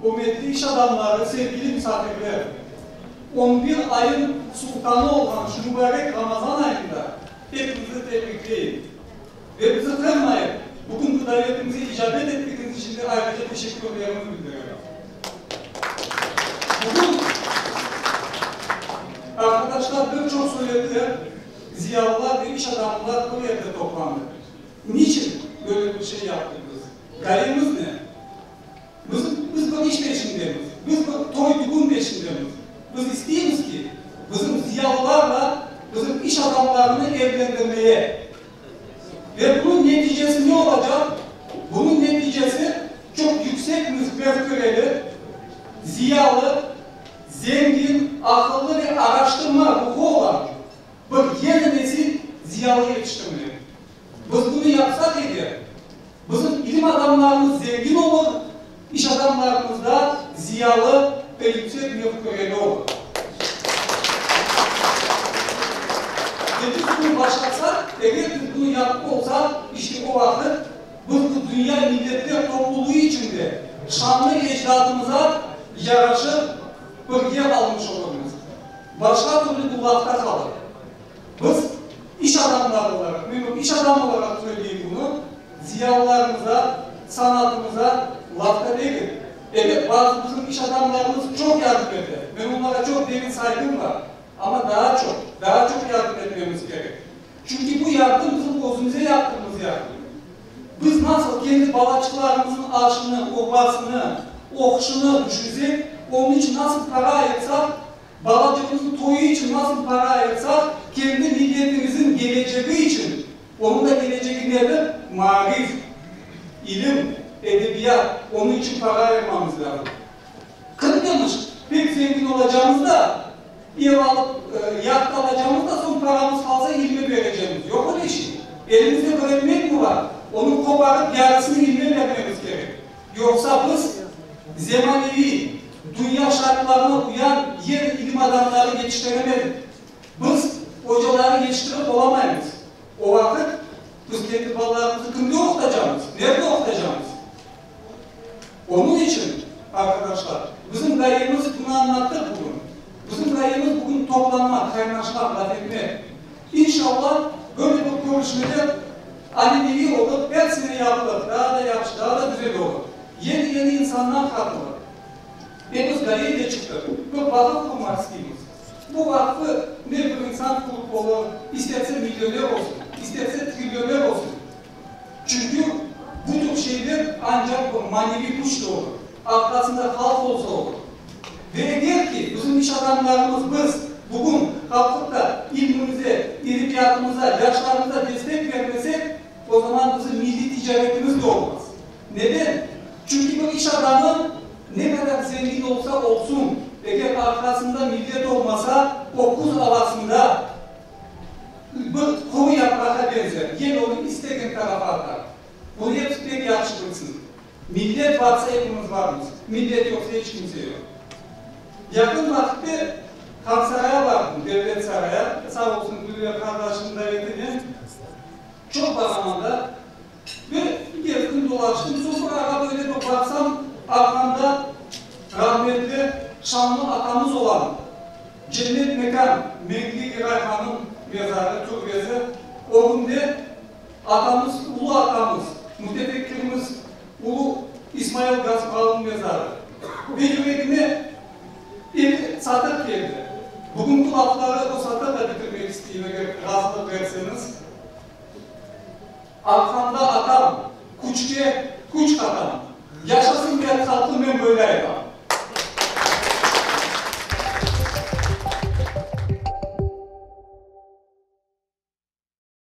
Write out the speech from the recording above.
Ürmetli iş adamları, sevgili misafirler! On bir ayın sultanı olğan şu mübarek Ramazan ayında epiñizni tebrikleyim. Ve bizi qırmayıp, bugünki davetimize icabet ettigiñiz içün de ayrıca teşekkürlerimi bildirem. Bugün, arkadaşlar, bir çoq suretler, Ziyalılar, üç adamlar bu yerde toplandı. Niçin böyle bir şey yaptık biz? Gayemiz ne? Biz, biz bir iş peşindemiz. Biz bir toy-dügün peşindemiz. Biz isteymiz ki, bizim ziyalılarla bizim iş adamlarını evlendirmeye. Ve bunıñ neticesi ne olacaq? Bunıñ neticesi çoq yüksek müfkereli, ziyalı, Zengin, aqıllı ve araştırma ruhu olan bir yeni nesil ziyalı yetiştirmeli. Biz bunı yapsaq edi, bizim ilim adamlarımız zengin olur, iş adamlarımız da ziyalı ve yüksek mefküreli olur. Ve biz bunı başarsaq, eğer biz bunı yapıp olsaq, işte o vaqıt, bir dünya milletler toplulığı içinde şanlı ecdadımıza yaraşıp birge qalmış olurmız. Başqa türlü bu lafta qalır. Biz, iş adamları olaraq, men bir iş adamı olaraq söyleyim bunı, ziyalılarımıza, sanatımıza lafta degil. Elbet, bazı bizim iş adamlarımız çoq yardım ete, men onlara çoq derin sayğım bar, amma daa çoq, daa çoq yardım etmemiz kerek. Çünki bu yardım bizim özümüze yaptığımız yardım. Biz nasıl kendi balaçıqlarımıznıñ açını, obasını, oquşını düşürsek, onıñ içün nasıl para ayırsaq, balacığımıznıñ toyu içün nasıl para ayırsaq, kendi milletimizniñ gelecegi içün, onıñ da gelecegi nedir? Maarif, ilim, edebiyat, onıñ içün para ayırmamız lâzım. Qırım demiş, pek zengin olacağımız da, Ev alıp yat qalacamız da, soñ paramız qalsa ilime berecemiz. Yoq öyle şey. Elimizde bir ekmek mi bar, onı qoparıp yarısını ilime bermemiz kerek. Yoqsa biz zemaneviy, dünya şartlarına uyan yer ilim adamları yetiştiremedik. Biz ocaları yetiştirip olamaymız. O vaqıt biz kendi balalarımızı kimde oqutacamız, nerde oqutacamız? Onıñ içün, arqadaşlar, bizim ğayemiz bunı añlattı bugün. Bizim ğayemiz bugün toplanmaq, qaynaşmaq, laf etmek. İnşalla, böyle bir körüşmeler anineviy olıp, er sene yapılır, daa da yahşı, daa da güzel olur. Yeni-yeni insanlar qatılır. Epiz ğayeyle çıqtıq, bir vaqıf qurmaq isteymiz. Bu vaqfı ne bir insan qurup olur, isterse millioner olsun, isterse trillioner olsun, Çünki bütün şeyler ancaq bir maneviy küçle olur, arqasında halq olsa olur. Ve eger ki, bizim iş adamlarımız, biz bugün qalqıpta ilmimize, edebiyatımıza, yaşlarımıza destek bermesek, o zaman bizim milliy ticaretimiz de olmaz. Neden? Çünki bir iş adamı ne qadar zengin olsa olsun, eger arqasında millet olmasa, o küz avasında, Bir quru yaprağa benzer, yene onı istegen tarafa atar. Bunı episi pek yahşı bilsin. Millet varsa epimiz varmız, millet yoqsa eç kimse yoq. Yaqın vaqitte Hansaraya bardım, Devlet saraya, sağ olsun Gülver qardaşnıñ davetinen çoq baramanda, Ve iker kün dolaştım, soñ bir ağa böyle bir baqsam, arqamda rahmetli şanlı atamız olan Cennet mekan Menkli İray hanım mezarı, türbesi, o künde atamız, ulu atamız, mütefekkirimiz ulu İsmail Gasprovnıñ mezarı. Ve yüregime bir satır keldi. Bugünki lafları o satırla bitirmek isteyim, eger razılıq berseñiz. Arqamda atam, küçke küç qatam. Yaşasın mert halqım men böyle aytam.